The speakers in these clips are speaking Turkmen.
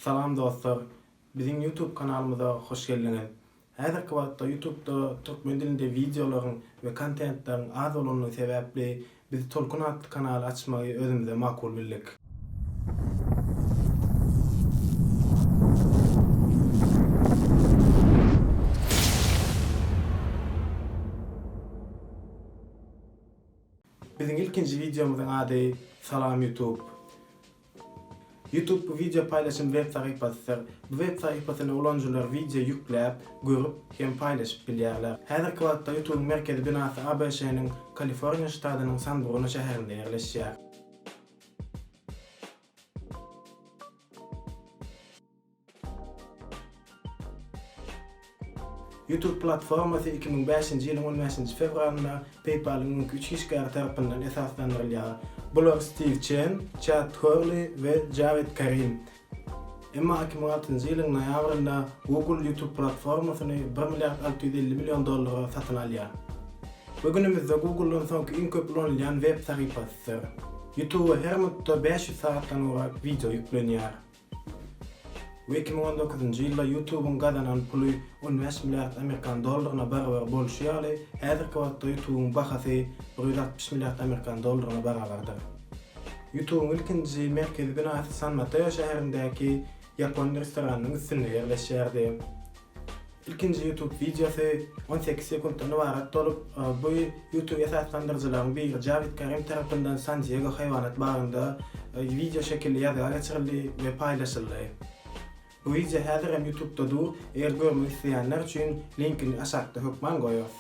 Salam dostlar! Biziň YouTube kanalymyza hoş geldiňiz! Häzirki wagtda YouTubda türkmen dilinde wideolaryň we kontentleriň az bolandygy sebäpli biz Tolkun atly kanaly açmagy özümize makul bildik. Biziň ilkinji wideomyzyň ady Salam YouTube. YouTube bu wideo paýlaşym web sahypasydyr. Bu web sahypasyna ulanyjylar wideo ýükläp, görüp hem paýlaşyp bilýärler. Häzirki wagtda YouTube-yň merkezi binasy ABŞ-nyň Kaliforniýa ştadynyň San-Bruno şäherinde ýerleşýär. YouTube platformasy iki müň bäşinji ýylyň on bäşinji fewralynda PayPal-yň öňki üç işgäri tarapyndan esaslandyrylýar. Bular Stiw Çen, Çad Horli we Jared Karim. Emma iki müň altynjy ýylyň noýabrynda Google YouTube platformasyny bir milliard alty ýüz elli million dollara satyn alýar. Bu günümizde Google-dan soňky iň köp ulanylýan web sahypasydyr. YouTube-a her minutda bäş ýüz sagatdan gowrak wideo ýüklenýär. Bu iki müň on dokuzynjy ýylda YouTube-yň gazanan puly on bäş milliard amerikan dollaryna barabar bolşy ýaly, häzirki wagtda YouTube-yň bahasy bir ýüz altmyş milliard amerikan dollaryna barabardyr. YouTube-yň ilkinji merkezi binasy San Mateo şäherindäki ýapon restoranynyň üstünde ýerleşýärdi. Ilkinji YouTube wideosy on sekiz sekuntdan ybarat bolup, bu YouTube esaslandyryjylaryň biri Jawid Karim tarapyndan San-Diego haýwanat bagynda wideo şekilli ýazga geçirildi we paýlaşyldy. Bu wideo häzir hem YouTube-da dur, eger görmek isleýänler üçin linkini aşakda hökman goýarys.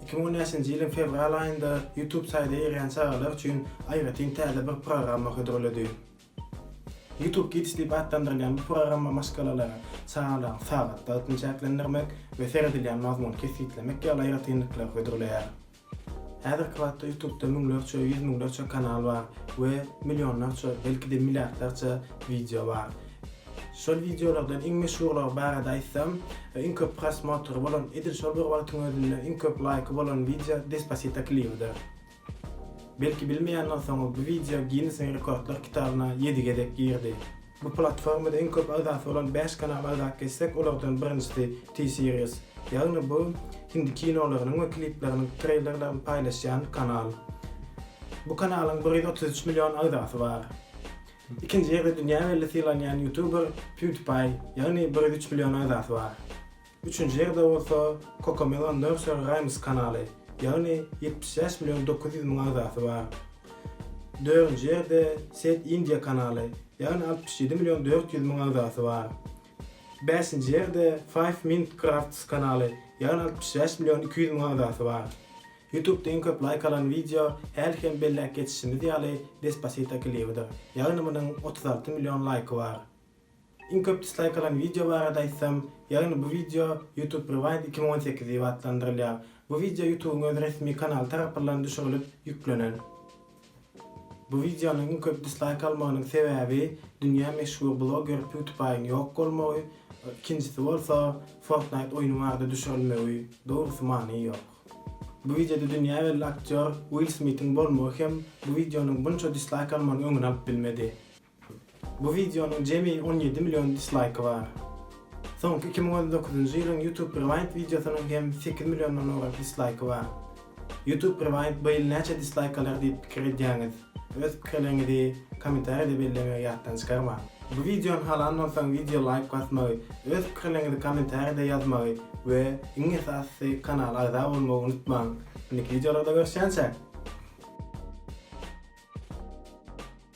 Iki müň on bäşinji ýylyň fewral aýynda YouTube saýda girýän çagalar üçin aýratyn täze bir programma hödürledi. YouTube Kids diýip atlandyrylýan bu programma maşgalalary sagalygyň sagat wagtyny çäklendirmek we seredilýän mazmuny kesgitlemek ýaly aýratynlyklary hödürleýär. Häzirki wagtda YouTube-da müňlerçe, ýüz müňlerçe kanal bar we millionlarça, belki-de milliardlarça wideo bar. Şol wideolardan iň meşhurlary barada aýtsam, iň köp prosmotry bolan, edil şol bir wagtyň özünde iň köp laýky bolan wideo Despasito klibidir. Belki bilmeýänler soňra bu wideo Ginnesiň rekordlar kitabyna ýedi gezek girdi. Bu platformada iň köp agzasy bolan bäş kanal agzalyk geçsek, olardan birinjisi T-Series. Ýagny bu hindi kinolarynyň we klipleriniň treýlerlerini paýlaşýan kanal. Bu kanalyň bir ýüz otuz üç million agzasy bar. Ikinji ýerde dünýä belli sylanýan ýutuber PewDiePie, ýagny bir ýüz üç million agzasy bar. Üçünji ýerde bolsa Cocomelon Nursery Rhymes kanaly, ýagny ýetmiş bäş million dokuz ýüz müň agzasy bar. Dördünji ýerde Set India kanaly, ýagny altmyş ýedi million dört ýüz müň agzasy bar. Bäşinji ýerde Five Minute Crafts kanaly, ýagny altmyş bäş million iki ýüz müň agzasy bar. Youtubda iň köp laýk alan wideo häli hem belläp geçişimiz ýaly Despasito klibidir, ýagny munuň otuz alty million laýky bar. Iň köp dislaýkalan wideo barada aýtsam, ýagny bu wideo YouTube Rewind iki müň on sekiz diýip atlandyrylýar. Bu wideo YouTubyň öz resmi kanaly tarapyllan düşürilip ýüklenen. Bu wideonyň iň köp dislaýk almagynyň sebäbi dünýä meşhur bloger PewDiePie-iň ýok bolmagy, ikinjisi bolsa Fortnite oýny barada düşürilmegi, dogrusy many ýok. Bu wideoda dünýä belli aktýor Will Smithiň bolmagy hem bu wideonyň bunça dislaýk almagynyň öňüni alyp bilmedi. Bu wideonyň jemi on ýedi million dislaýky bar. Soňky iki müň on dokuzynjy ýylyň YouTube Rewind wideosynyň hem sekiz milliondan owrak dislaýky bar. YouTube Rewind bu ýyl näçe dislaýk alar diýip pikir edýäňiz? Öz pikirleriňizi kommentariýada bellemegiňi ýatdan çykarmaň. Bu wideony halan bolsaň wideo laýk basmagy, öz pikirleriňizi kommentariýada ýazmagy we iň esasysy kanala agza bolmagy unutmaň. Indiki wideolarda görüşýänçä!